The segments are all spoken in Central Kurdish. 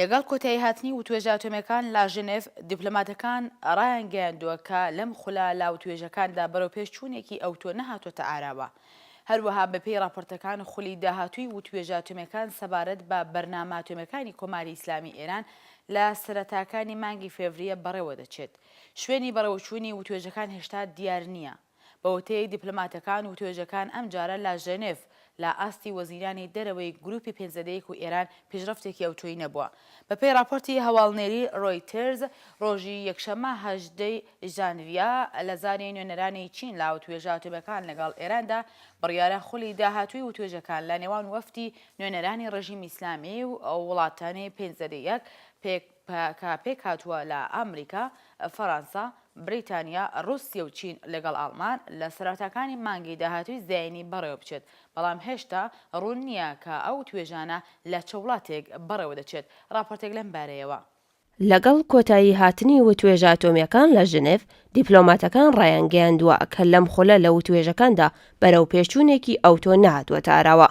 لەگەڵ کۆتایی هاتنی وتوێژە ئەتۆمیەکان لە ژنێڤ، دیپلۆماتەکان ڕایانگەیاندووە کە لەم خولا لە وتوێژەکاندا بەرەوپێش چوونێکی ئەوتۆ نەهاتووەتە ئاراوە. هەروەها بەپێی ڕاپۆرتەکان خولی داهاتووی وتوێژە ئەتۆمیەکان سەبارەت بە بەرنامە ئەتۆمیەکانی کۆماری ئیسلامی ئێران لە سەرەتاکانی مانگی فێڤریە بەڕێوەدەچێت. شوێنی بەڕێوەچوونی وتوێژەکان هێشتا دیار نییە. بە وتەی دیپلۆماتەکان وتوێژەکان ئەمجارە لە ژێنێڤ لە ئاستی وەزیرانی دەرەوەی گرووپی پێنج لە دەیەک و ئێران پیشڕەفتێکی ئەوتۆی نەبووە. بە پێی ڕاپۆرتی هەواڵنێری ڕۆیتێرز، ڕۆژی یەکشەممە هەژدە ی ژانڤیە لە زاری نوێنەرانی چین لە وتوێژە ئەتۆمیەکان لەگەڵ ئێراندا بڕیارە خولی داهاتووی وتوێژەکان لە نێوان وەفدی نوێنەرانی ڕێژیمی ئیسلامی و وڵاتانی پێنج لە دەیەک پێک پەکەکە پێکهاتووە لە ئامریکا، فەرانسە، بریتانیا، ڕووسیە و چین لەگەڵ ئاڵمان لە سەرەتاکانی مانگی داهاتووی زایینی بەڕێوەبچێت، بەڵام هێشتا ڕوون نییە کە ئەو توێژانە لە چ وڵاتێک بەڕێوەدەچێت، ڕاپۆرتێک لەم بارەیەوە. لەگەڵ کۆتایی هاتنی وتوێژە ئەتۆمییەکان لە ژنێڤ، دیپلۆماتەکان ڕایانگەیاندووە کە لەم خولە لە وتوێژەکاندا بەرەوپێشچوونێکی ئەوتۆ نەهاتووەتە ئاراوە،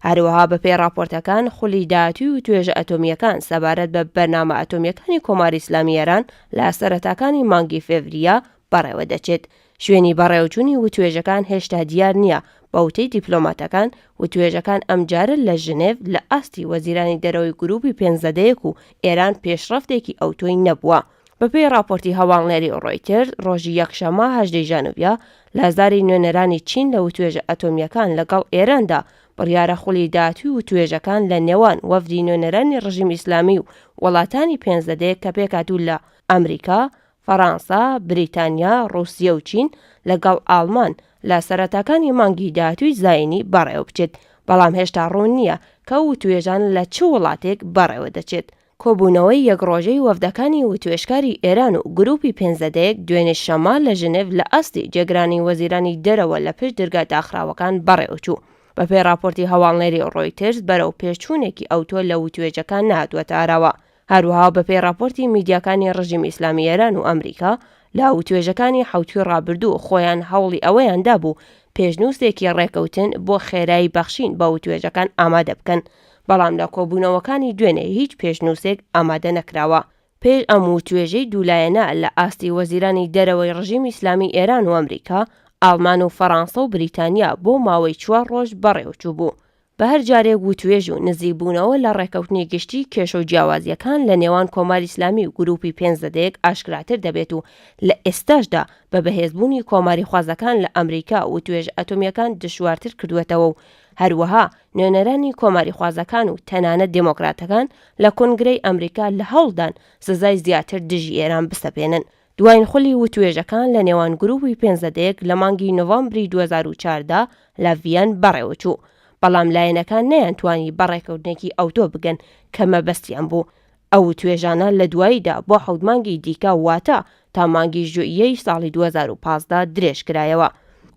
هەروەها بەپێی ڕاپۆرتەکان خولی داهاتووی و توێژە ئەتۆمییەکان سەبارەت بە بەرنامە ئەتۆمییەکانی کۆماری ئیسلامی ئێران لە سەرەتاکانی مانگی فێڤرییە بەڕێوە دەچێت، شوێنی بەڕێوەچوونی وتوێژەکان هێشتا دیار نییە، بە وتەی دیپلۆماتەکان، وتوێژەکان ئەمجارە لە ژنێڤ لە ئاستی وەزیرانی دەرەوەی گرووپی پێنج زەدەیەک و ئێران پێشڕەفتێکی ئەوتۆی نەبووە. بەپێی ڕاپۆرتی هەواڵنێری ڕۆیتێرز، ڕۆژی یەکشەممە هەژدە ی ژانڤیە، لازاری نوێنەرانی چین لە وتوێژە ئەتۆمییەکان لەگەڵ ئێراندا، بڕیارە خولی داهاتووی وتوێژەکان لە نێوان وەفدی نوێنەرانی ڕژیم ئیسلامی و وڵاتانی پێنجدەدێ کە پێکهاتوون لە ئەمریکا، فەرانسە، بریتانیا، ڕووسیە و چین لەگەڵ ئاڵمان لە سەرەتاکانی مانگی داهاتووی زایینی بەڕێوەبچێت، بەڵام هێشتا ڕوون نییە کە ئەو وتوێژانە لە چ وڵاتێک بەڕێوەدەچێت. کۆبوونەوەی یەک ڕۆژەی وەفدەکانی وتوێژکاری ئێران و گرووپی پێنج زەدەیەک دوێنێ شەممە لە ژنێڤ لە ئاستی جێگرانی وەزیرانی دەرەوە لە پشت درگا داخراوەکان بەڕێوەچوو. بەپێی ڕاپۆرتی هەواڵنێری ڕۆیتێرز بەرەوپێشچوونێکی ئەوتۆ لە وتوێژەکان نەهاتووەتە ئاراوە. هەروەها بەپێی ڕاپۆرتی میدیاکانی ڕژیمی ئیسلامی ئێران و ئەمریکا لە وتوێژەکانی حەوتووی ڕابردوو خۆیان هەوڵی ئەوەیان دابوو پێشنووسێکی ڕێکەوتن بۆ خێرایی بەخشین بە وتوێژەکان ئامادە بکەن بەڵام لە کۆبوونەوەکانی دوێنێ هیچ پێشنووسێک ئامادە نەکراوە. پێش ئەم وتوێژەی دوولایەنە لە ئاستی وەزیرانی دەرەوەی ڕژیمی ئیسلامیی ئێران و ئەمریکا، ئاڵمان و فەڕانسە و بریتانیا بۆ ماوەی چوار ڕۆژ بەڕێوە چووبوو. بە هەر جارێک وتوێژ و نزیکبوونەوە لە ڕێککەوتنی گشتی، کێشە و جیاوازییەکان لە نێوان کۆماری ئیسلامی و گرووپی پێنج زەدەیەک ئاشکراتر دەبێت و لە ئێستاشدا بە بەهێزبوونی کۆماریخوازەکان لە ئەمریکا وتوێژە ئەتۆمییەکان دژوارتر کردووەتەوە و هەروەها نوێنەرانی کۆماریخوازەکان و تەنانەت دێمۆکراتەکان لە کۆنگرەی ئەمریکا لە هەوڵدان سزای زیاتر دژی ئێران بسەپێنن. دواین خولی وتوێژەکان لە نێوان گرووپی پێنج زەدەیەک لە مانگی نۆڤەمبری دوو هەزار و چواردە لە ڤییەن بەڕێوە چوو، بەڵام لایەنەکان نەیانتوانی بە ڕێککەوتنێکی ئەوتۆ بگەن کە مەبەستیان بوو. ئەو وتوێژانە لە دواییدا بۆ حەوت مانگی دیکە واتە تا مانگی ژوئیەی ساڵی دوو هەزار و پازدە درێژکرایەوە.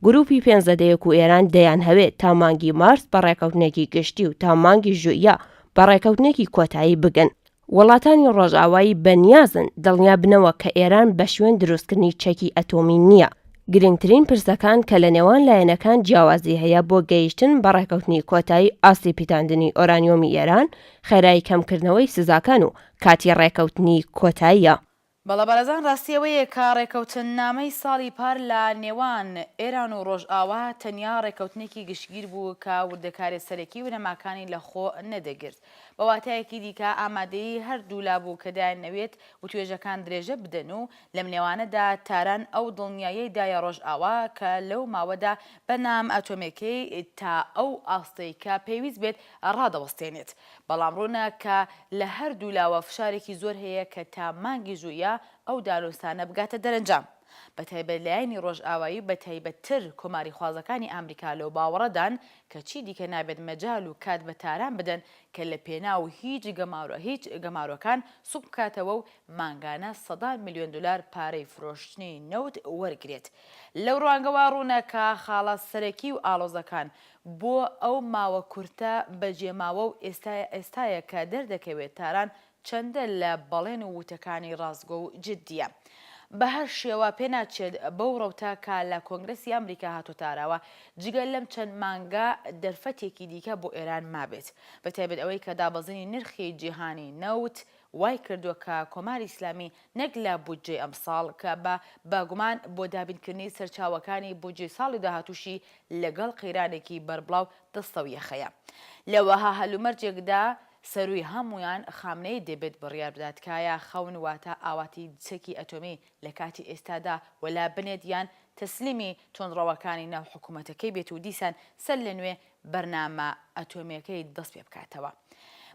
گرووپی پێنزەدەیەک و ئێران دەیانهەوێ تا مانگی مارس بە ڕێکەوتنێکی گشتی و تا مانگی ژوئیە بە ڕێکەوتنێکی کۆتایی بگەن. وڵاتانی ڕۆژئاوایی بە نیازن دڵنیا بنەوە کە ئێران بە شوێن دروستکردنی چەکی ئەتۆمی نییە. گرنگترین پرسەکان کە لە نێوان لایەنەکان جیاوازی هەیە بۆ گەیشتن بە ڕێکەوتنی کۆتایی ئاستی پیتاندنی ئۆرانیۆمی ئێران، خێرایی کەمکردنەوەی سزاکان و کاتی ڕێکەوتنی کۆتاییە. بەڵێ بەڕێزان ڕاستی ئەوەیە کە ڕێکەوتننامەی ساڵی پار لە نێوان ئێران و ڕۆژئاوا تەنیا ڕێکەوتنێکی گشتگیر بوو کە وردەکارێ سەرەکی ونەماکانی لە خۆ نەدەگرت. بە واتایەکی دیکە ئامادەیی هەر دوو لا بوو کە دایانەوێت وتوێژەکان درێژە بدەن و لەم نێوانەدا تاران ئەو دڵنیایەی دایە ڕۆژئاوا کە لەو ماوەدا بەرنامە ئەتۆمێکەی تا ئەو ئاستەی کە پێویست بێت ڕادەوەستێنێت، بەڵام ڕوونە کە لە هەردوولاوە فشارێکی زۆر هەیە کە تا مانگی ژوئیە ئەو دانوستانە بگاتە دەرەنجام. بەتایبەت لایەنی ڕۆژئاوایی و بەتایبەتتر کۆماریخوازەکانی ئامریکا لەو باوەڕەدان کە چی دیکە نابێت مەجال و کات بە تاران بدەن کە لە پێناو هیچ هیچ گەمارۆکان سوک بکاتەوە و مانگانە سەدان ملیۆن دولار پارەی فرۆشتنی نەوت وەرگرێت. لەو ڕوانگەوە ڕوونە کە خاڵە سەرەکی و ئاڵۆزەکان بۆ ئەو ماوە کورتە بەجێماوە و ئێستایە ئێستایە کە دەردەکەوێت تاران چەندە لە بەڵێن و وتەکانی ڕاستگۆ و جدییە. بە هەر شێوە پێناچێت بەو ڕەوتە کە لە کۆنگرەسی ئامریکا هاتۆتە ئاراوە، جگە لەم چەند مانگە دەرفەتێکی دیکە بۆ ئێران مابێت. بەتایبەت ئەوەی کە دابەزینی نرخی جیهانی نەوت وای کردووە کە کۆماری ئیسلامی نەک لە بودجەی ئەمساڵ، کە بە بە گومان بۆ دابینکردنی سەرچاوەکانی بودجەی ساڵی داهاتووشی لەگەڵ قەیرانێکی بەربڵاو دەستەو یەخەیە لە وەها هەلومەرجێکدا سەرووی هەموویان خامنەیی دەبێت بڕیار بدات کایا خەون واتە ئاواتی چەکی ئەتۆمی لە کاتی ئێستادا وەلا بنێت یان تەسلیمی توندڕەوەکانی ناو حکوومەتەکەی بێت و دیسان سەر لە نوێ بەرنامە ئەتۆمیەکەی دەست پێ بکاتەوە.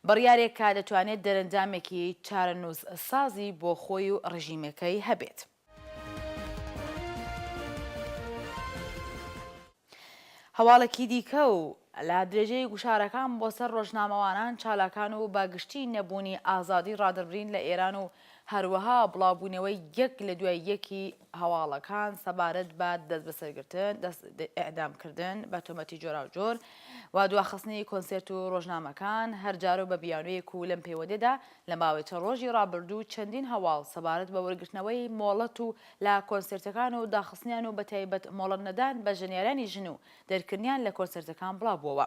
بڕیارێک کە دەتوانێت دەرەنجامێکی چارەنووس سازی بۆ خۆی و ڕژیمەکەی هەبێت. هەواڵێکی دیکە و لە درێژەی گوشارەکان بۆ سەر ڕۆژنامەوانان، چالاکان و بە گشتی نەبوونی ئازادی ڕادەربرین لە ئێران و هەروەها بڵاوبوونەوەی یەک لە دوای یەکی هەواڵەکان سەبارەت بە دەستبەسەرگرتن، ئێعدامکردن بە تۆمەتی جۆراوجۆر و دواخستنی کۆنسێرت و ڕۆژنامەکان هەرجارە و بە بیانوویەک و لەم پەیوەندیدا لە ماوەی چەند ڕۆژی ڕابردوو چەندین هەواڵ سەبارەت بە وەرگرتنەوەی مۆڵەت و لە کۆنسێرتەکان و داخستنیان و بەتایبەت مۆڵەتنەدان بە ژەنیارانی ژن و دەرکردنیان لە کۆنسێرتەکان بڵاوبووەوە.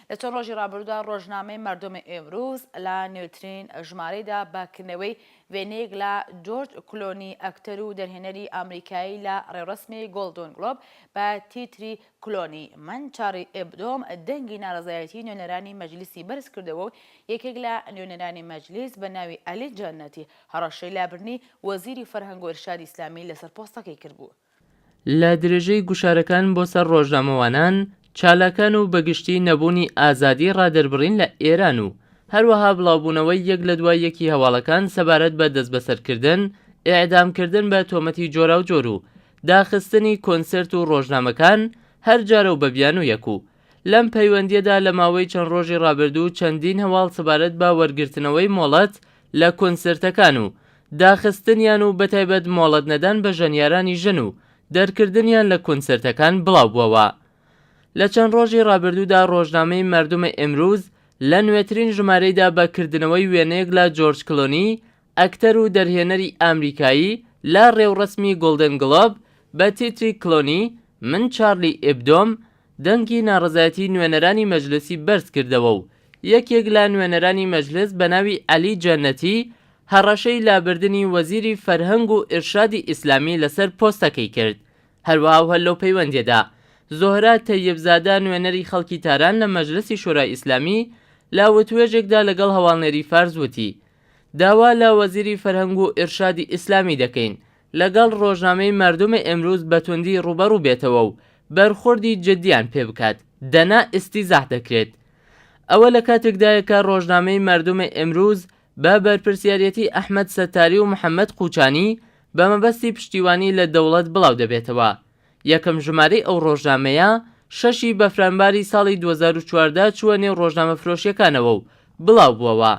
لە چەند ڕۆژی ڕابردوودا ڕۆژنامەی مەردۆم ئیمروز لە نوێترین ژمارەیدا بە کردنەوەی وێنەیەک لە جۆرج کلۆنی ئەکتەر و دەرهێنەری ئامریکایی لە ڕێوڕەسمی گۆڵدۆن گڵۆب بە تیتری کلۆنی من چاڕی ئێبدۆم دەنگی ناڕەزایەتی نوێنەرانی مەجلیسی بەرزکردەوە و یەکێک لە نوێنەرانی مەجلیس بە ناوی ئەلی جەنەتی هەڕەشەی لابردنی وەزیری فەرهەنگ و ئیرشادی ئیسلامی لەسەر پۆستەکەی کردبوو. لە درێژەی گوشارەکان بۆ سەر ڕۆژنامەوانان، چالاکان و بەگشتی نەبوونی ئازادی ڕادەربڕین لە ئێران و هەروەها بڵاوبوونەوەی یەک لە دوای یەکی هەواڵەکان سەبارەت بە دەستبەسەرکردن، ئێعدامکردن بە تۆمەتی جۆراوجۆر و داخستنی کۆنسێرت و ڕۆژنامەکان هەر جارە و بە بیانوویەک و لەم پەیوەندییەدا لە ماوەی چەند ڕۆژی ڕابردوو چەندین هەواڵ سەبارەت بە وەرگرتنەوەی مۆڵەت لە کۆنسێرتەکان و داخستنیان و بەتایبەت مۆڵەت نەدان بە ژەنیارانی ژن و دەرکردنیان لە کۆنسێرتەکان بڵاوبووەوە لە چەند ڕۆژی ڕابردوودا ڕۆژنامەی مردم امروز لە نوێترین ژمارەیدا بە کردنەوەی وێنەیەک لە جۆرج کلۆنی ئەکتەر و دەرهێنەری ئامریکایی لە ڕێوڕەسمی گۆڵدن گڵۆب بە تیتری کلۆنی من چارلی ئیبدۆم دەنگی ناڕەزایەتی نوێنەرانی مەجلسی بەرز کردەوە و یەکێک لە نوێنەرانی مەجلس بە ناوی عەلی جەنەتی هەڕەشەی لابردنی وەزیری فەرهەنگ و ئیرشادی ئیسلامی لەسەر پۆستەکەی کرد هەروەها و هەر لەو پەیوەندیەدا زۆهرا تەیب زادە نوێنەری خەڵکی تاران لە مەجلسی شورای ئیسلامی لە وتوێژێکدا لەگەڵ هەواڵنێری فارس وتی داوا لە وەزیری فەرهەنگ و ئیرشادی ئیسلامی دەکەین لەگەڵ ڕۆژنامەی مەردم ئیمروز بە توندی ڕووبەڕوو بێتەوە و بەرخۆردی جدیان پێ بکات دەنا ئیستیزاح دەکرێت. ئەوە لە کاتێکدایە کە ڕۆژنامەی مەردم ئیمروز بە بەرپرسیاریەتی ئەحمەد سەتاری و محەمەد قوچانی بە مەبەستی پشتیوانی لە دەوڵەت بڵاو دەبێتەوە. یەکەم ژمارەی ئەو ڕۆژنامەیە شەش ی بەفرانباری ساڵی دوو هەزار و چواردە چووە نێو ڕۆژنامەفرۆشیەکانەوە و بڵاو بووەوە.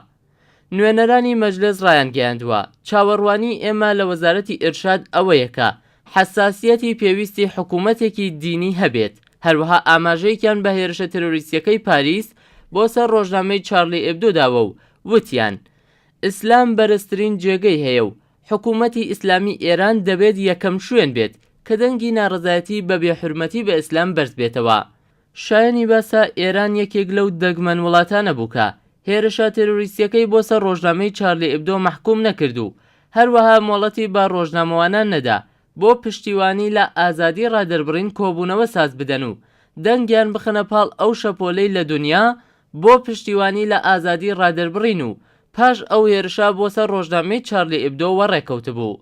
نوێنەرانی مەجلس ڕایانگەیاندووە، چاوەڕوانیی ئێمە لە وەزارەتی ئیرشاد ئەوەیە کە حەساسییەتی پێویستی حکوومەتێکی دینی هەبێت، هەروەها ئاماژەیەکیان بە هێرشە تێرۆریستییەکەی پاریس بۆ سەر ڕۆژنامەی چارلی ئێبدۆ داوە و وتیان، ئیسلام بەرزترین جێگەی هەیە و حکوومەتی ئیسلامیی ئێران دەبێت یەکەم شوێن بێت کە دەنگی ناڕەزایەتی بە بێحورمەتی بە ئیسلام بەرز بێتەوە. شایەنی باسە ئێران یەکێک لەو دەگمەن وڵاتانە بوو کە هێرشە تێرۆریستییەکەی بۆ سەر ڕۆژنامەی چارلی ئیبدۆ مەحکووم نەکرد و هەروەها مۆڵەتی بە ڕۆژنامەوانان نەدا بۆ پشتیوانی لە ئازادی ڕادەربڕین کۆبوونەوە ساز بدەن و دەنگیان بخەنە پاڵ ئەو شەپۆلەی لە دونیا بۆ پشتیوانی لە ئازادی ڕادەربڕین و پاش ئەو هێرشە بۆ سەر ڕۆژنامەی چارلی ئیبدۆ وەڕێکەوتبوو.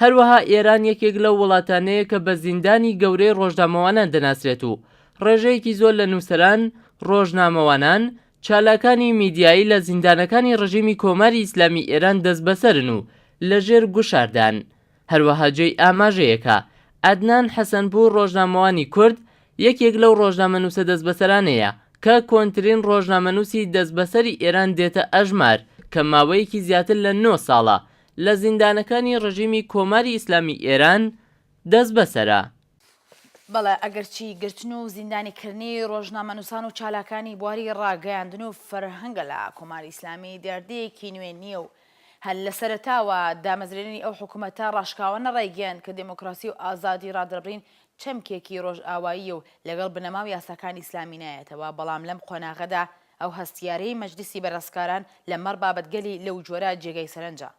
هەروەها ئێران یەکێک لەو وڵاتانەیە کە بە زیندانی گەورەی ڕۆژنامەوانان دەناسرێت و ڕێژەیەکی زۆر لە نووسەران، ڕۆژنامەوانان، چالاکانی میدیایی لە زیندانەکانی ڕژیمی کۆماری ئیسلامی ئێران دەستبەسەرن و لە ژێر گوشاردان. هەروەها جێی ئاماژەیە کە عەدنان حەسەنپوور ڕۆژنامەوانی کورد یەکێک لەو ڕۆژنامەنووسە دەستبەسەرانەیە کە کۆنترین ڕۆژنامەنووسی دەستبەسەری ئێران دێتە ئەژمار کە ماوەیەکی زیاتر لە نۆ ساڵە لە زیندانەکانی ڕژیمی کۆماری ئیسلامی ئێران دەستبەسەرە. بەڵێ، ئەگەرچی گرتن و زیندانیکرنی ڕۆژنامەنووسان و چالاکانی بواری ڕاگەیاندن و فەرهەنگ لە کۆماری ئیسلامی دیاردەیەکی نوێ نییە و هەر لە سەرەتاوە دامەزرێنەری ئەو حکومەتە ڕاشکاوانە ڕایگەیاند کە دێمۆکڕاسی و ئازادی ڕادەربڕین چەمکێکی ڕۆژئاواییە و لەگەڵ بنەما و یاساکانی ئیسلامی نایەتەوە، بەڵام لەم قۆناغەدا ئەو هەستیارەی مەجلیسی بەرەسکاران لە مەڕ بابەتگەلی لەو جۆرە جێگای سەرنجە.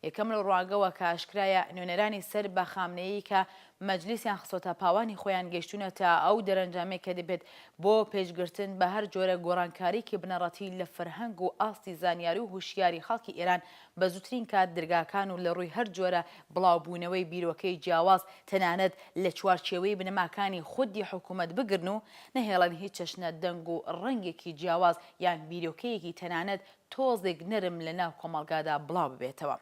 یەکەم لەو ڕوانگەوە کە ئاشکرایە نوێنەرانی سەر بە خامنەیی کە مەجلیسیان خستۆتە پاوانی خۆیان گەیشتوونەتە ئەو دەرەنجامەی کە دەبێت بۆ پێشگرتن بە هەر جۆرە گۆڕانکاریکی بنەڕەتی لە فەرهەنگ و ئاستی زانیاری و هوشیاری خەڵکی ئێران بە زووترین کات درگاکان و لە ڕووی هەر جۆرە بڵاوبوونەوەی بیرۆکەی جیاواز تەنانەت لە چوارچێوەی بنەماکانی خودی حکوومەت بگرن و نەهێڵن هیچ چەشنە دەنگ و ڕەنگێکی جیاواز یان بیرۆکەیەکی تەنانەت تۆزێک نەرم لە ناو کۆمەڵگادا بڵاو ببێتەوە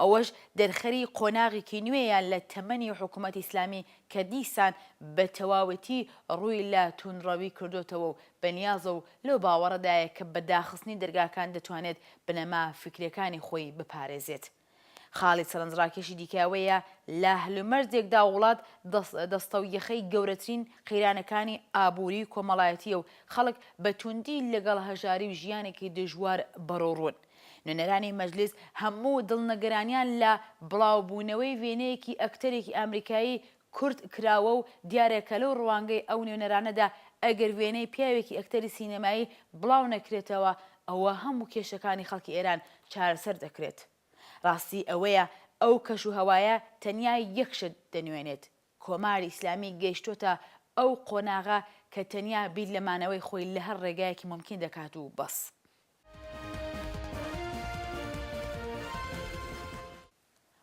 ئەوەش دەرخەری قۆناغێکی نوێیە لە تەمەنی حکوومەتی ئیسلامی کە دیسان بە تەواوەتی ڕووی لە تووندڕەوی کردۆتەوە و بەنیازە و لەو باوەڕەدایە کە بە داخستنی دەرگاکان دەتوانێت بنەما فیکرییەکانی خۆی بپارێزێت. خاڵی سەرنجڕاکێشی دیکە ئەوەیە لە هەلومەرجێکدا وڵات دەستە و یەخەی گەورەترین قەیرانەکانی ئابووری و کۆمەڵایەتییە و خەڵک بە تووندی لەگەڵ هەژاری و ژیانێکی دژوار بەڕووڕوون. نوێنەرانی مەجلیس هەموو دڵنەگەرانیان لە بڵاوبوونەوەی وێنەیەکی ئەکتەرێکی ئامریکایی کورت کراوە و دیارە کە لەو ڕوانگەی ئەو نوێنەرانەدا ئەگەر وێنەی پیاوێکی ئەکتەری سینەمایی بڵاو نەکرێتەوە ئەوە هەموو کێشەکانی خەڵکی ئێران چارەسەر دەکرێت. ڕاستی ئەوەیە ئەو کەش و هەوایە تەنیا یەک شت دەنوێنێت، کۆماری ئیسلامی گەیشتۆتە ئەو قۆناغە کە تەنیا بیر لە مانەوەی خۆی لە هەر ڕێگایەکی مومکین دەکات و بەس.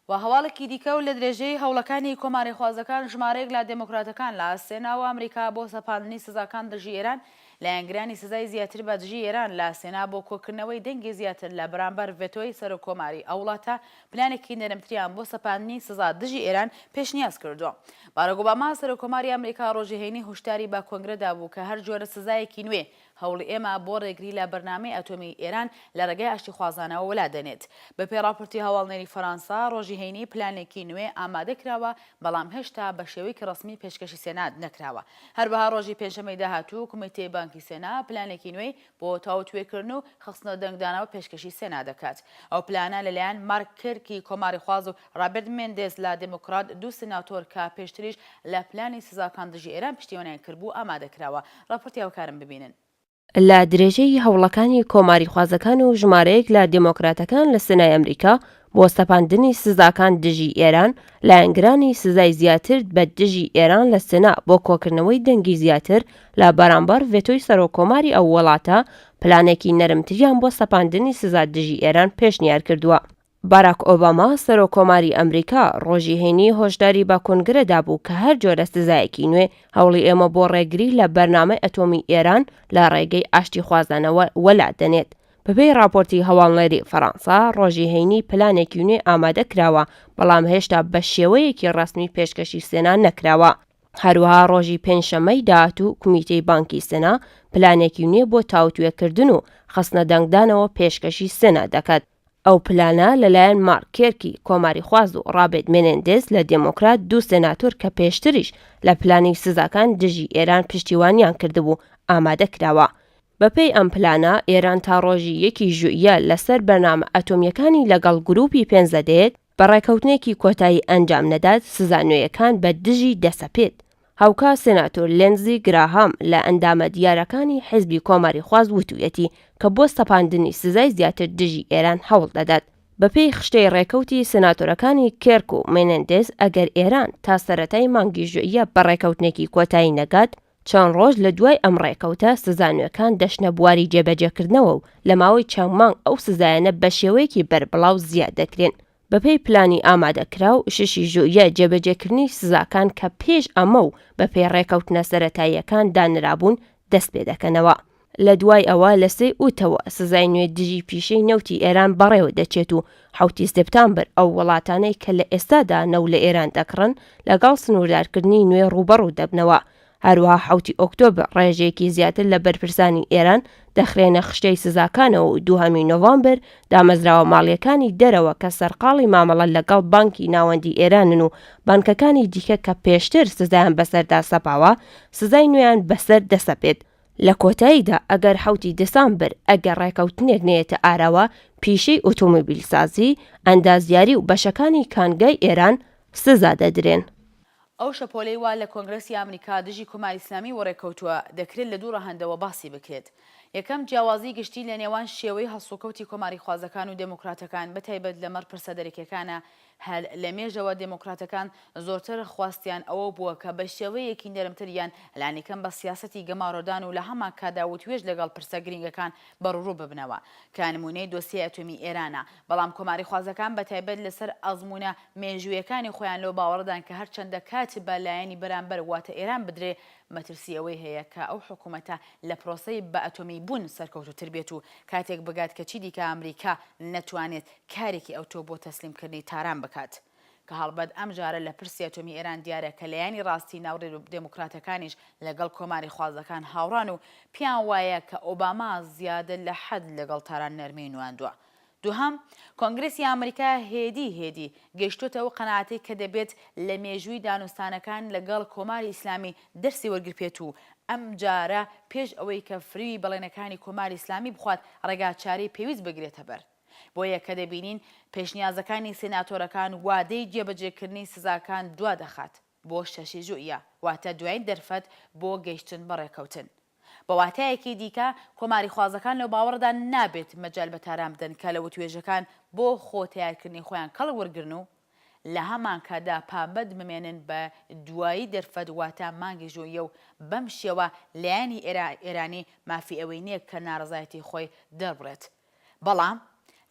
و هەواڵێکی دیکە و لە درێژەی هەوڵەکانی کۆماریخوازەکان ژمارەیەک لە دێموکراتەکان لە سێنا و ئەمریکا بۆ سەپاندنی سزاکان دژی ئێران، لایەنگرانی سزای زیاتر بە دژی ئێران لە سێنا بۆ کۆکردنەوەی دەنگی زیاتر لە بەرامبەر ڤێتۆی سەرۆک کۆماری ئەو وڵاتە پلانێکی نەرمتریان بۆ سەپاندنی سزا دژی ئێران پێشنیاز کردووە. باراک ئۆباما سەرۆک کۆماری ئەمریکا ڕۆژی هەینی هوشداری بە کۆنگرە دابوو کە هەر جۆرە سزایەکی نوێ هەوڵی ئێمە بۆ ڕێگری لە بەرنامەی ئەتۆمیی ئێران لە ڕێگای ئاشتیخوازانەوە وەلا دەنێت. بە پێی ڕاپۆرتی هەواڵنێری فەرانسە، ڕۆژی هەینی پلانێکی نوێ ئامادە کراوە، بەڵام هێشتا بە شێوەیەکی ڕەسمی پێشکەشی سێنات نەکراوە. هەروەها ڕۆژی پێنجشەممەی داهاتوو کومیتەی بانکی سێنا پلانێکی نوێی بۆ تاوتوێکردن و خستنەدەنگدانەوە پێشکەشی سێنا دەکات. ئەو پلانە لەلایەن مارک کرکی کۆماریخواز و ڕابێرت مێندێز لە دێموکڕات دوو سناتۆر کە پێشتریش لە پلانی سزاکان دژی ئێران پشتیوانیان کردبوو ئامادە کراوە. ڕاپۆرتی هاوکارم ببینن. لە درێژەی هەوڵەکانی کۆماریخوازەکان و ژمارەیەک لە دێمۆکراتەکان لە سنای ئەمریکا بۆ سەپاندنی سزاکان دژی ئێران، لایەنگرانی سزای زیاتر بە دژی ئێران لە سنا بۆ کۆکردنەوەی دەنگی زیاتر لە بەرامبەر ڤێتۆی سەرۆک کۆماری ئەو وڵاتە پلانێکی نەرمتریان بۆ سەپاندنی سزا دژی ئێران پێشنیار کردووە. باراک ئۆباما، سەرۆککۆماری ئەمریکا، ڕۆژی هەینی هۆشداری بە کونگرە دابوو کە هەر جۆرە سزایەکی نوێ هەوڵی ئێمە بۆ ڕێگری لە بەرنامەی ئەتۆمی ئێران لە ڕێگەی ئاشتیخوازانەوە وەلا دەنێت. بەپێی ڕاپۆرتی هەواڵنێری فەرانسە، ڕۆژی هەینی پلانێکی نوێ ئامادە کراوە، بەڵام هێشتا بە شێوەیەکی ڕەسمی پێشکەشی سێنا نەکراوە. هەروەها ڕۆژی پێنجشەممەی داهاتوو کومیتەی بانکی سێنا پلانێکی نوێ بۆ تاوتوێکردن و خستنە دەنگدانەوە پێشکەشی سێنا دەکات. ئەو پلانە لەلایەن مارک کێرکی کۆماریخواز و ڕابێت مێنێندێز لە دێمۆکرات دوو سێناتۆر کە پێشتریش لە پلانی سزاکان دژی ئێران پشتیوانیان کردبوو ئامادە کراوە. بەپێی ئەم پلانە ئێران تا ڕۆژی یەکی ژوئیە لەسەر بەرنامە ئەتۆمییەکانی لەگەڵ گرووپی پێنج دەدەیەت بە ڕێکەوتنێکی کۆتایی ئەنجام نەدات سزا نوێیەکان بە دژی دەسەپێت. هاوکات سێناتۆر لێندزی گراهام لە ئەندامە دیارەکانی حیزبی کۆماریخواز وتویەتی کە بۆ سەپاندنی سزای زیاتر دژی ئێران هەوڵ دەدات. بە پێی خشتەی ڕێکەوتی سێناتۆرەکانی کێرک و مێنێندێز ئەگەر ئێران تا سەرەتای مانگی ژوئیە بە ڕێکەوتنێکی کۆتایی نەگات، چەند ڕۆژ لە دوای ئەم ڕێکەوتە، سزا نوێکان دەچنە بواری جێبەجێکردنەوە و لە ماوەی چەند مانگ ئەو سزایانە بە شێوەیەکی بەربڵاو زیاد دەکرێن. بەپێی پلانی ئامادەکراو، ششی ژوئیە جێبەجێکردنی سزاکان کە پێش ئەمە و بەپێی ڕێکەوتنە سەرەتاییەکان دانرابوون، دەستپێدەکەنەوە. لە دوای ئەوە لە سێ ی ئوتەوە سزای نوێ دژی پیشەی نەوتی ئێران بەڕێوە دەچێت و حەوت ی سێپتامبر ئەو وڵاتانەی کە لە ئێستادا نەو لە ئێران دەکڕن لەگەڵ سنووردارکردنی نوێ ڕووبەڕوو دەبنەوە هەروەها حەوت ی ئۆکتۆبر ڕێژەیەکی زیاتر لە بەرپرسانی ئێران دەخرێنە خشتەی سزاکانەوە و دووهەم ی نۆڤامبر دامەزراوە ماڵیەکانی دەرەوە کە سەرقاڵی مامەڵە لەگەڵ بانکی ناوەندی ئێرانن و بانکەکانی دیکە کە پێشتر سزایان بەسەردا سەپاوە سزای نوێیان بەسەر دەسەپێت لە کۆتاییدا ئەگەر حەوتی دسامبر ئەگەر ڕێکەوتنێک نەیەتە ئاراوە پیشەی ئۆتۆمبیلسازی، ئەندازیاری و بەشەکانی کانگای ئێران سزا دەدرێن. ئەو شەپۆلەی وا لە کۆنگرەسی ئامریکا دژی کۆماری ئیسلامی وەڕێکەوتووە، دەکرێت لە دوو ڕەهەندەوە باسی بکرێت. یەکەم، جیاوازیی گشتی لە نێوان شێوەی هەڵسوکەوتی کۆماریخوازەکان و دێموکراتەکان بەتایبەت لەمەڕ پرسە دەرەکییەکانە هەر لە مێژەوە دێمۆکراتەکان زۆرتر خواستیان ئەوە بووە کە بە شێوەیەکی نەرمتر یان لانیکەم بە سیاسەتی گەمارۆدان و لە هەمان کاتدا وتوێژ لەگەڵ پرسە گرینگەکان بەڕووڕوو ببنەوە کە نموونەی دۆسیەی ئەتۆمی ئێرانە بەڵام کۆماریخوازەکان بە تایبەت لە سەر ئەزموونە مێژوویەکانی خۆیان لەوە باوەڕدان کە هەر چەندە کات بە لایەنی بەرامبەر واتە ئێران بدرێ مەترسی ئەوەی هەیە کە ئەو حکوومەتە لە پرۆسەی بە ئەتۆمی بوون سەرکەوتووتر بێت و کاتێک بگات کە چیدیکە ئەمریکا نەتوانێت کارێکی ئەوتۆ بۆ تەسلیم کردنی تاران بکات. کە هەڵبەت ئەم جارە لە پرسی ئەتۆمی ئێران دیارە کە لایەنی ڕاستی ناو دێموکراتەکانیش لە گەڵ کۆماری خوازەکان هاوڕان و پێیان وایە کە ئۆباما زیادە لە حەد لە گەڵ تاران نەرمیی نواندوە. دوهەم، کۆنگرێسی ئامریکا هێدی هێدی گەیشتۆتە ئەو قەناعەتەی کە دەبێت لە مێژووی دانوستانەکان لە گەڵ کۆماری ئیسلامی دەرسی وەرگرپێت و ئەم جارە پێش ئەوەی کە فریوی بەڵێنەکانی کۆماری ئیسلامی بخوات ڕێگاچارەی پێویست بگرێتە بەر. بۆیە کە دەبینین پێشنیازەکانی سێناتۆرەکان وادەی جێبەجێکردنی سزاکان دوا دەخات بۆ شەشی ژوئیە، واتە دوایین دەرفەت بۆ گەیشتن بە ڕێککەوتن. بە واتایەکی دیکە، کۆماریخوازەکان لەو باوەڕەدا نابێت مەجال بە تاران بدەن کە لە وتوێژەکان بۆ خۆ تەیارکردنی خۆیان کەڵک وەرگرن و لە هەمان کاتدا پابەند بمێنن بە دوایی دەرفەت واتە مانگی ژوئیە و بەم شێوە لایەنی ئێرانی مافی ئەوەی نییە کە ناڕەزایەتی خۆی دەربڕێت بەڵام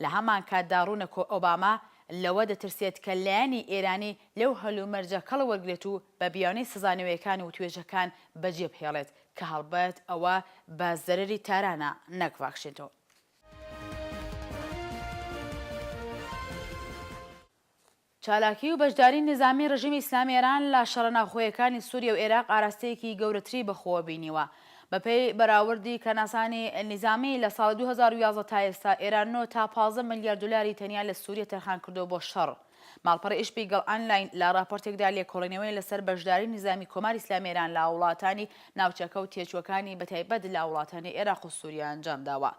لە هەمانکاتدا ڕوونە کۆ ئۆباما لەوە دەترسێت کە لایەنی ئێرانی لەو هەلومەرجە کەڵ وەرگرێت و بە بیانووی سزا نوێکان وتوێژەکان بەجێ بهێڵێت کە هەڵبەت ئەوە بە زەرەری تارانە نەک ڤاکشینتۆن. چالاکی و بەشداری نیزامی ڕژیمی ئیسلامی ئێران لە شەڕە ناوخۆیەکانی سووریە و ئێراق ئاراستەیەکی گەورەتری بە خۆوە بینیوە. بە پێی بەراوردی کەناسانی نیزامی، لە ساڵی دوو هەزار و یازدە تا ئێستا ئێران نۆ تا پازدە ملیار دولاری تەنیا لە سووریە تەرخان کردووە بۆ شەڕ. ماڵپەڕی ئیشپیگڵ ئانلاین لە ڕاپۆرتێکدا لێکۆڵینەوەی لە سەر بەشداری نیزامی کۆماری ئیسلامی ئێران لە وڵاتانی ناوچەکە و تێچووەکانی بە تایبەت لە وڵاتانی ئێراق و سووریە ئەنجام داوە.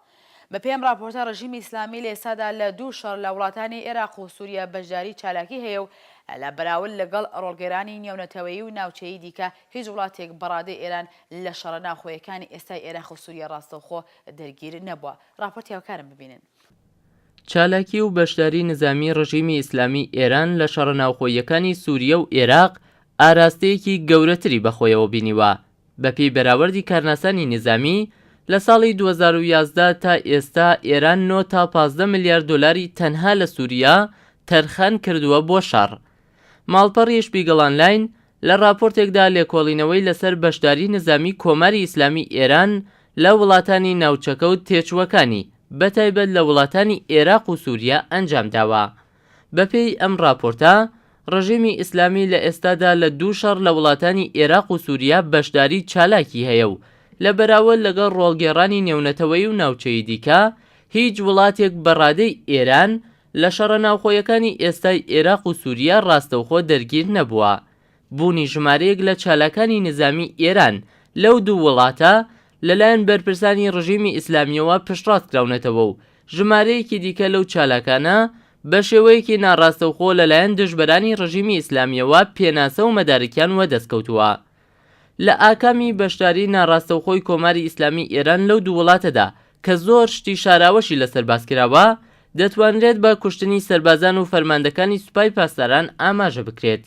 بەپێی ئەم ڕاپۆرتە ڕژیمی ئیسلامی لە ئێستادا لە دوو شەڕ لە وڵاتانی ئێراق و سووریە بەشداری چالاکی هەیە و لە بەراورد لەگەڵ ڕۆڵگێرانی نێونەتەوەیی و ناوچەیی دیکە هیچ وڵاتێک بەڕادەی ئێران لە شەڕە ناوخۆیەکانی ئێستای ئێراق و سووریە ڕاستەوخۆ دەرگیر نەبووە. ڕاپۆرتی هاوکارم ببینن. چالاکی و بەشداری نزامی ڕژیمی ئیسلامی ئێران لە شەڕە ناوخۆییەکانی سووریە و ئێراق ئاراستەیەکی گەورەتری بەخۆیەوە بینیوە بەپێی بەراوردی کارناسانی نیزامی، لە ساڵی دوو هەزار و یازدە تا ئێستا ئێران نۆ تا پازدە ملیار دۆلاری تەنها لە سووریا تەرخان کردووە بۆ شەڕ. ماڵپەڕی شپیگڵ ئانلاین لە ڕاپۆرتێکدا لێکۆڵینەوەی لەسەر بەشداری نیزامی کۆماری ئیسلامی ئێران لە وڵاتانی ناوچەکە و تێچووەکانی بەتایبەت لە وڵاتانی ئێراق و سووریا ئەنجام داوە. بەپێی ئەم ڕاپۆرتە، ڕژێمی ئیسلامی لە ئێستادا لە دوو شەڕ لە وڵاتانی ئێراق و سوریا بەشداری چالاکی هەیە و لە بەراوەر لەگەڵ ڕۆڵگێڕانی نێونەتەوەیی و ناوچەیی دیکە، هیچ وڵاتێک بە ڕادەی ئێران لە شەڕە ناوخۆیەکانی ئێستای ئێراق و سوریا ڕاستەوخۆ دەرگیر نەبووە. بوونی ژمارەیەک لە چالاکانی نیزامیی ئێران لەو دوو وڵاتە لەلایەن بەرپرسانی ڕژیمی ئیسلامییەوە پشتڕاست کراونەتەوە و ژمارەیەکی دیکە لەو چالاکانە بە شێوەیەکی ناڕاستەوخۆ لەلایەن دژبەرانی ڕژیمی ئیسلامییەوە پێناسە و مەدارکیان وەدەست کەوتووە لە ئاکامی بەشداریی ناڕاستەوخۆی کۆماری ئیسلامیی ئێران لەو دوو وڵاتەدا کە زۆر شتی شاراوەشی لەسەر باس کراوە، دەتوانرێت بە کوشتنی سەربازان و فەرماندەکانی سوپای پاسداران ئاماژە بکرێت.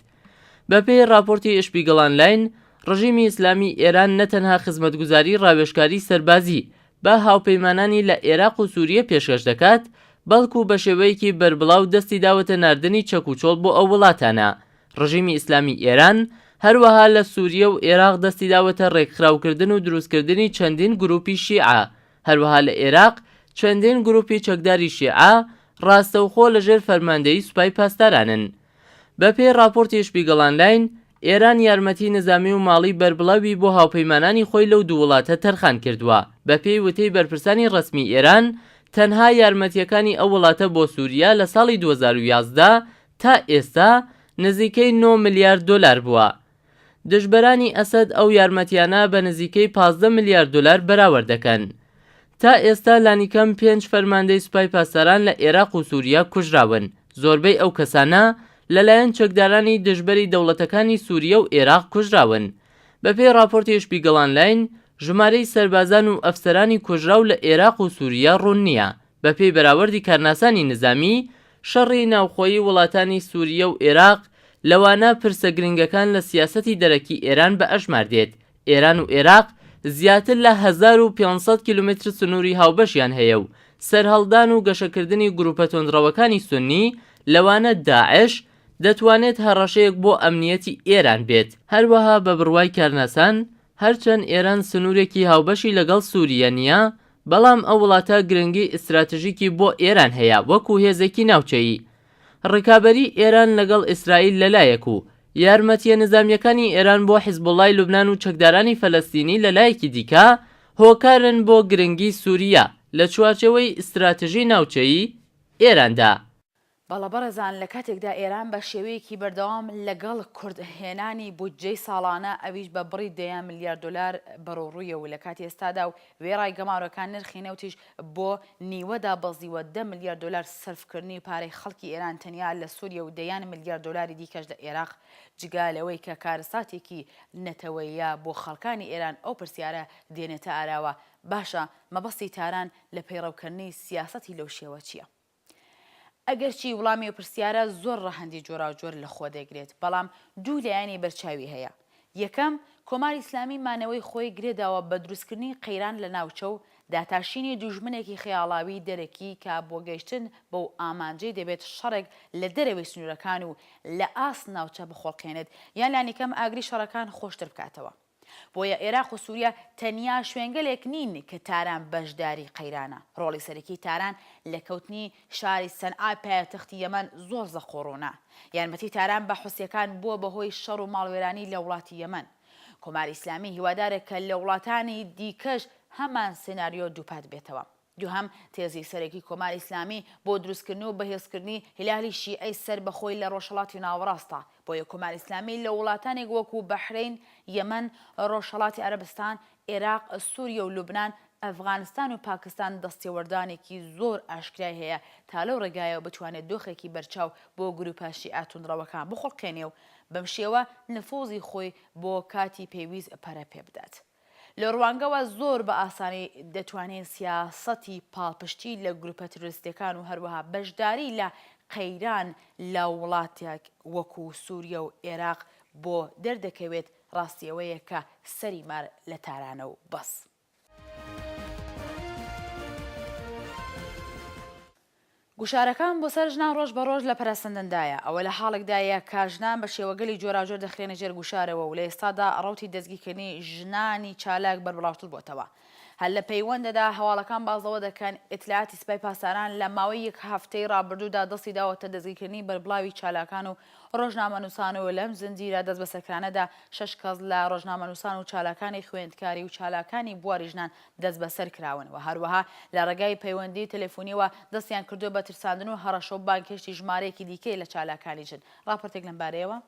بەپێی ڕاپۆرتی ئشپیگڵ ئانلاین، ڕژیمی ئیسلامیی ئێران نە تەنها خزمەتگوزاریی ڕاوێژکاری سەربازی بە هاوپەیمانانی لە ئێراق و سووریە پێشکەش دەکات، بەڵکوو بە شێوەیەکی بەربڵاو دەستی داوەتە ناردنی چەک و چۆڵ بۆ ئەو وڵاتانە. ڕژیمی ئیسلامیی ئێران هەروەها لە سووریە و ئێراق دەستی داوەتە ڕێکخراوکردن و دروستکردنی چەندین گرووپی شیعە، هەروەها لە ئێراق چەندین گرووپی چەکداری شیعە ڕاستەوخۆ لەژێر فەرماندەیی سوپای پاسدارانن. بەپێی ڕاپۆرتی شپیگڵ ئانلاین، ئێران یارمەتیی نیزامی و ماڵیی بەربڵاوی بۆ هاوپەیمانانی خۆی لەو دوو وڵاتە تەرخان کردووە. بەپێی وتەی بەرپرسانی ڕەسمیی ئێران، تەنها یارمەتییەکانی ئەو وڵاتە بۆ سووریە لە ساڵی دوو هەزار و یازدە تا ئێستا نزیکەی نۆ ملیار دۆلار بووە. دژبەرانی ئەسەد ئەو یارمەتییانە بە نزیکەی پازدە ملیار دۆلار بەراورد دەکەن. تا ئێستا لانیکەم پێنج فەرماندەی سوپای پاسداران لە ئێراق و سووریە کوژراون، زۆربەی ئەو کەسانە لەلایەن چەکدارانی دژبەری دەوڵەتەکانی سووریە و ئێراق کوژراون. بەپێی ڕاپۆرتی شپیگڵ ئانلاین، ژمارەی سەربازان و ئەفسەرانی کوژراو لە ئێراق و سووریە ڕوون نییە. بەپێی بەراوردی کارناسانی نزامی، شەڕی ناوخۆیی وڵاتانی سووریە و ئێراق، لەوانە پرسە گرنگەکان لە سیاسەتی دەرەکی ئێران بە ئەژمار دێت، ئێران و ئێراق زیاتر لە هەزار و پێنج سەد کیلۆمەتر سنووری هاوبەشیان هەیە و سەرهەڵدان و گەشەکردنی گرووپە توندڕەوەکانی سوننی لەوانە داعش دەتوانێت هەڕەشەیەک بۆ ئەمنییەتی ئێران بێت. هەروەها بە بڕوای کارناسان، هەرچەند ئێران سنوورێکی هاوبەشی لەگەڵ سووریە نییە، بەڵام ئەو وڵاتە گرنگی ئیستراتژیکی بۆ ئێران هەیە وەکوو هێزێکی ناوچەیی. ڕکابەریی ئێران لەگەڵ ئیسرائیل لە لایەک و یارمەتییە نیزامییەکانی ئێران بۆ حیزبوڵڵای لوبنان و چەکدارانی فەلەستینی لە لایەکی دیکە، هۆکارن بۆ گرنگی سووریە لە چوارچێوەی ئیستراتژی ناوچەیی ئێراندا. بەڵە بەڕێزان لە کاتێکدا ئێران بە شێوەیەکی بەردەوام لە گەڵ کورد هێنانی بودجەی ساڵانە ئەویش بە بڕی دەیان ملیار دۆلار بەرو ڕوویە و لە کاتی ئێستادا و وێڕای گەمارۆکان نرخی نەوتیش بۆ نیوە دابەزیوە دە ملیار دۆلار سەرف کردنی پارەی خەڵکی ئێران تەنیا لە سوریە و دەیان ملیار دۆلاری دیکەش لە ئێراق جگا لەوەی کە کارەساتێکی نەتەوەییە بۆ خەڵکانی ئێران ئەو پرسیارە دێنێتە ئاراوە باشە مەبەستی تاران لە پەیڕەو کردنی سیاسەتی لەو شێوە چیە؟ ئەگەرچی وڵامی ئەو پرسیارە زۆر ڕەهەندی جۆراوجۆر لە خۆ دەگرێت، بەڵام دوو لایەنی بەرچاوی هەیە. یەکەم، کۆماری ئیسلامی مانەوەی خۆی گرێ داوە بە دروستکردنی قەیران لە ناوچە و داتاشینی دوژمنێکی خەیاڵاوی دەرەکی کە بۆ گەیشتن بەو ئامانجەی دەبێت شەڕێک لە دەرەوەی سنوورەکان و لە ئاست ناوچە بخوڵقێنێت یان لانیکەم ئاگری شەڕەکان خۆشتر بکاتەوە. بۆیە ئێراق و سووریە تەنیا شوێنگەلێک نین کە تاران بەشداری قەیرانە. ڕۆڵی سەرەکیی تاران لە کەوتنی شاری سەنعای پایەتەختی یەمەن زۆر زەق و ڕوونە. یارمەتیی تاران بە حوسییەکان بووە بە هۆی شەڕ و ماڵوێرانی لە وڵاتی یەمەن. کۆماری ئیسلامی هیوادارە کە لە وڵاتانی دیکەش هەمان سیناریۆ دووپات بێتەوە. دوهەم، تێزی سەرەکی کۆماری ئیسلامی بۆ دروستکردن و بەهێزکردنی هیلالی شیعەی سەر بە خۆی لە ڕۆژهەڵاتی ناوەڕاستە، بۆیە کۆماری ئیسلامی لە وڵاتانێک وەکو بەحرەین، یەمەن، ڕۆژهەڵاتی عەرەبستان، ئێراق، سوریە و لوبنان، ئەفغانستان و پاکستان دەستێوەردانێکی زۆر ئاشکرای هەیە تا لەو ڕێگایەوە بتوانێت دۆخێکی بەرچاو بۆ گروپە شیعە توندڕەوەکان بخوڵقێنێ و بەم شێوە نفوزی خۆی بۆ کاتی پێویست پەرە پێبدات. لەو ڕوانگەوە زۆر بە ئاسانی دەتوانین سیاسەتی پاڵپشتی لە گروپە ترۆریستیەکان و هەروەها بەشداری لە قەیران لە وڵاتێک وەکو سوریە و ئێراق بۆ دەردەکەوێت ڕاستی ئەوەیە کە سەری مار لە تارانە و بەس. گوشارەکان بۆ سەر ژنان ڕۆژ بە ڕۆژ لە پەرەسەندندایە، ئەوە لە حاڵێکدایە کە ژنان بە شێوەگەلی جۆراوجۆر دەخرێنە ژێر گوشارەوە و لە ئێستادا ڕەوتی دەستگیرکردنی ژنانی چالاک بەربڵاوتر بۆتەوە. هەر لە پەیوەندەدا هەواڵەکان باس لەوە دەکەن، ئیتلاعاتی سپای پاسداران لە ماوەی یەک هەفتەی ڕابردوودا دەستی داوەتە دەستگیرکردنی بەربڵاوی چالاکان و ڕۆژنامەنووسان و لەم زنجیرە دەستبەسەرکرانەدا شەش کەس لە ڕۆژنامەنووسان و چالاکانی خوێندکاری و چالاکانی بواری ژنان دەستبەسەر کراون و هەروەها لە ڕێگای پەیوەندی تەلەفونیەوە دەستیان کردووە بە ترساندن و هەڕەشە و بانگهێشتی ژمارەیەکی دیکەی لە چالاکانی ژن. ڕاپۆرتێک لەم بارەیەوە.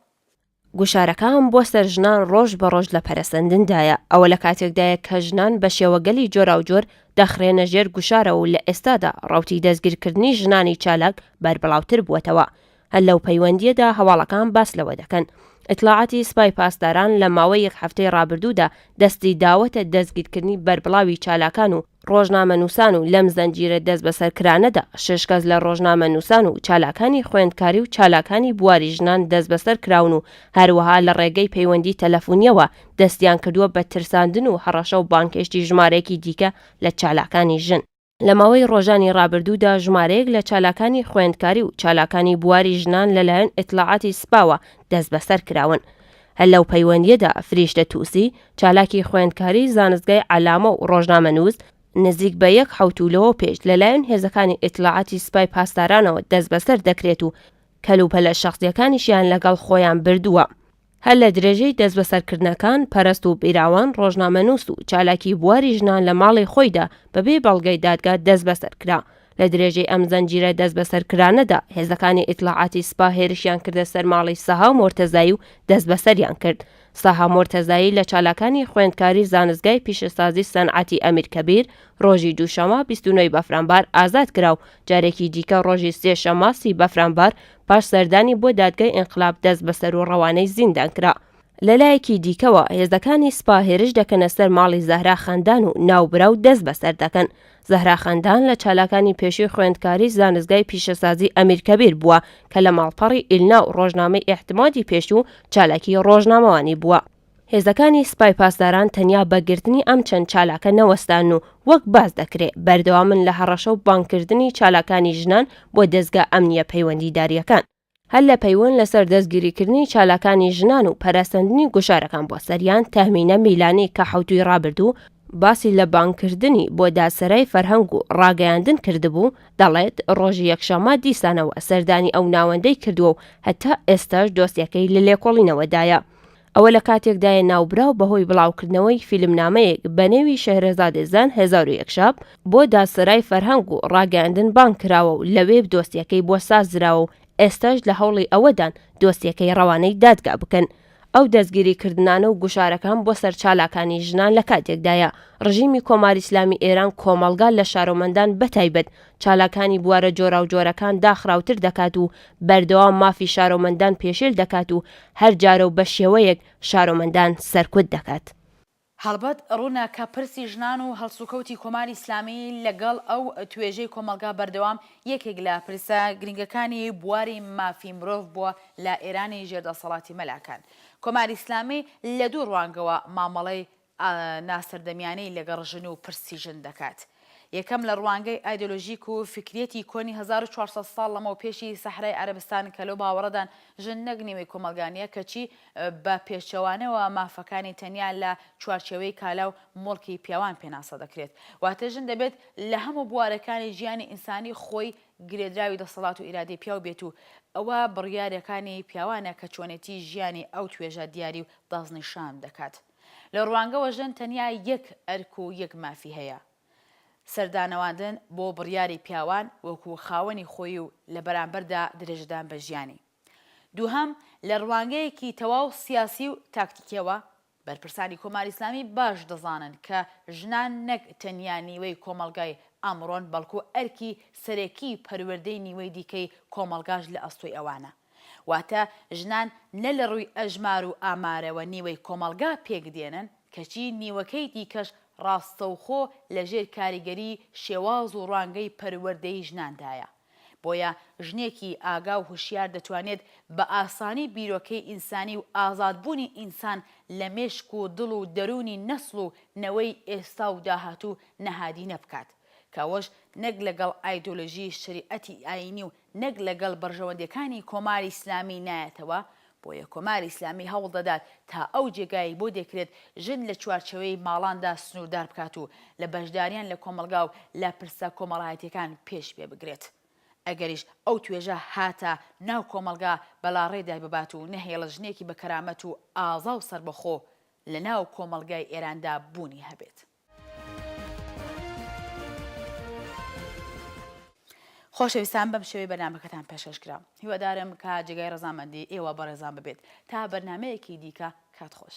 گوشارەکان بۆ سەر ژنان ڕۆژ بە ڕۆژ لە پەرەسەندندایە، ئەوە لە کاتێکدایە کە ژنان بە شێوەگەلی جۆراوجۆر دەخرێنە ژێر گوشارەوە و لە ئێستادا ڕەوتی دەستگیرکردنی ژنانی چالاک بەربڵاوتر بووەتەوە هەر لەو پەیوەندییەدا هەواڵەکان باس لەوە دەکەن، ئیتلاعاتی سپای پاسداران لە ماوەی یەک هەفتەی ڕابردوودا دەستی داوەتە دەستگیرکردنی بەربڵاوی چالاکان و ڕۆژنامەنووسان و لەم زنجیرە دەستبەسەرکرانەدا شەش کەس لە ڕۆژنامەنووسان و چالاکانی خوێندکاری و چالاکانی بواری ژنان دەستبەسەر کراون و هەروەها لە ڕێگەی پەیوەندی تەلەفونییەوە دەستیان کردووە بە ترساندن و هەڕەشە و بانگهێشتی ژمارەیەکی دیکە لە چالاکانی ژن. لە ماوەی ڕۆژانی ڕابردوودا ژمارەیەک لە چالاکانی خوێندکاری و چالاکانی بواری ژنان لەلایەن ئیتلاعاتی سپاوە دەستبەسەر کراون. هەر لەو پەیوەندییەدا فریشتە تووسی، چالاکی خوێندکاری زانستگای عەلامە و ڕۆژنامەنووس، نزیک بە یەک حەوتوو لەوە پێش لەلایەن هێزەکانی ئیتلاعاتی سپای پاسدارانەوە دەستبەسەر دەکرێت و کەلوپەلە شەخسییەکانیشیان لەگەڵ خۆیان بردووە. هەر لە درێژەی دەستبەسەرکردنەکان، پەرەست و بیراوان ڕۆژنامەنووس و چالاکی بواری ژنان لە ماڵی خۆیدا بەبێ بەڵگەی دادگا دەستبەسەر کرا. لە درێژەی ئەم زەنجیرە دەستبەسەرکرانەدا، هێزەکانی ئیتلاعاتی سپا هێرشیان کردە سەر ماڵی سەها مۆرتەزایی و دەستبەسەریان کرد. سەها مۆرتەزایی لە چالاکانی خوێندکاری زانستگای پیشەسازی سەنعەتی ئەمیر کەبیر ڕۆژی دووشەمە بیست و نۆ ی بەفرانبار ئازاد کرا و جارێکی دیکە ڕۆژی سێ شەمە سی بەفرانبار پاش سەردانی بۆ دادگای ئینقلاب دەست بەسەر و ڕەوانەی زیندان کرا. لە لایەکی دیکەوە هێزەکانی سپا هێرش دەکەنە سەر ماڵی زەهرا خەندان و ناوبراو دەست بەسەر دەکەن. زەهرا خەندان لە چالاکانی پێشووی خوێندکاری زانستگای پیشەسازی ئەمیر کەبیر بووە کە لە ماڵپەڕی ئیلنا و ڕۆژنامەی ئیعتمادی پێشوو چالاکی ڕۆژنامەوانی بووە. هێزەکانی سپای پاسداران تەنیا بە گرتنی ئەم چەند چالاکە نەوەستان و وەک باس دەکرێ بەردەوامن لە هەڕەشە و بانگ کردنی چالاکانی ژنان بۆ دەزگا ئەمنییە پەیوەندیدارییەکان، هەر لە پەیوەند لەسەر دەستگیری کردنی چالاکانی ژنان و پەرەسەندنی گوشارەکان بۆ سەریان، تەهمینە میلانی کە حەوتووی ڕابردوو باسی لە بانگ کردنی بۆ دادسەرای فەرهەنگ و ڕاگەیاندن کردبوو، دەڵێت ڕۆژی یەکشەممە دیسانەوە سەردانی ئەو ناوەندەی کردووە و هەتا ئێستاش دۆسیەکەی لە لێکۆڵینەوەدایە. ئەوە لە کاتێکدایە ناوبراو بەهۆی بڵاوکردنەوەی فیلمنامەیەک بە نێوی شەهرەزادێ زان هەزار و یەک شەب بۆ دادسەرای فەرهەنگ و ڕاگەیاندن بانگ کراوە و لەوێ دۆسیەکەی بۆ سازدراوە و ئێستاش لە هەوڵی ئەوەدان دۆسیەکەی ڕەوانەی دادگا بکەن. ئەو دەستگیریکردنانە و گوشارەکان بۆ سەر چالاکانی ژنان لە کاتێکدایە ڕژیمی کۆماری ئیسلامی ئێران کۆمەڵگا لە شارۆمەندان بە تایبەت چالاکانی بوارە جۆراوجۆرەکان داخراوتر دەکات و بەردەوام مافی شارۆمەندان پێشێل دەکات و هەر جارە و بە شێوەیەک شارۆمەندان سەرکوت دەکات. هەڵبەت ڕوونە کە پرسی ژنان و هەڵسوکەوتی کۆماری ئیسلامی لەگەڵ ئەو توێژەی کۆمەڵگا بەردەوام یەکێک لە پرسە گرنگەکانی بواری مافی مرۆڤ بووە لە ئێرانی ژێر دەسەڵاتی مەلاکان. کۆماری ئیسلامی لە دوو ڕوانگەوە مامەڵەی ناسەردەمیانەی لەگەڵ ژن و پرسی ژن دەکات. یەکەم لە ڕوانگەی ئایدۆلۆژیک و فیکریەتی کۆنی هەزار و چوار سەد ساڵ لەمەو پێشی سەحرای عەرەبستان کە لەو باوەڕەدان ژن نەک نیوەی کۆمەڵگا نیە کەچی بە پێچەوانەوە مافەکانی تەنیا لە چوارچێوەی کالا و موڵکی پیاوان پێناسە دەکرێت واتە ژن دەبێت لە هەموو بوارەکانی ژیانی ئینسانی خۆی گرێدراوی دەسەڵات و ئیرادەی پیاو بێت و ئەوە بڕیارەکانی پیاوانە کە چۆنێتی ژیانی ئەو توێژە دیاری و دەستنیشان دەکات. لە ڕوانگەوە ژن تەنیا یەک ئەرک و یەک مافی هەیە، سەردانەواندن بۆ بڕیاری پیاوان وەکوو خاوەنی خۆی و لە بەرامبەردا درێژەدان بە ژیانی. دووهەم، لە ڕوانگەیەکی تەواو سیاسی و تاکتیکیەوە، بەرپرسانی کۆماری ئیسلامی باش دەزانن کە ژنان نەک تەنیا نیوەی کۆمەڵگای ئەمڕۆن بەڵکوو ئەرکی سەرەکیی پەروەردەی نیوەی دیکەی کۆمەڵگاش لە ئەستۆی ئەوانە. واتە ژنان نە لە ڕووی ئەژمار و ئامارەوە نیوەی کۆمەڵگا پێک دێنن، کەچی نیوەکەی دیکەش ڕاستەوخۆ لە ژێر کاریگەریی شێواز و ڕوانگەی پەروەردەی ژناندایە. بۆیە ژنێکی ئاگا و هوشیار دەتوانێت بە ئاسانی بیرۆکەی ئینسانی و ئازادبوونی ئینسان لە مێشک و دڵ و دەروونی نەسڵ و نەوەی ئێستا و داهاتوو نهادینە بکات کە ئەوەش نەک لەگەڵ ئایدۆلۆژیی شەریعەتی ئایینی و نەک لەگەڵ بەرژەوەندیەکانی کۆماری ئیسلامی نایەتەوە، بۆیە کۆماری ئیسلامی هەوڵ دەدات تا ئەو جێگایەی بۆ دەکرێت ژن لە چوارچێوەی ماڵاندا سنووردار بکات و لە بەشداریان لە کۆمەڵگا و لە پرسە کۆمەڵایەتیەکان پێش پێ بگرێت. ئەگەریش ئەو توێژە هاتە ناو کۆمەڵگا بەلاڕێ دایببات و نەهێڵێت ژنێکی بە کەرامەت و ئازا و سەربەخۆ لە ناو کۆمەڵگای ئێراندا بوونی هەبێت. خۆشەویستان بەم شێوەی بەرنامەکەتان پێشکەش کرا هیوادارم کە جێگای ڕزامەندی ئێوە بەڕێزان ببێت تا بەرنمەیەکی دیکە کات خۆش.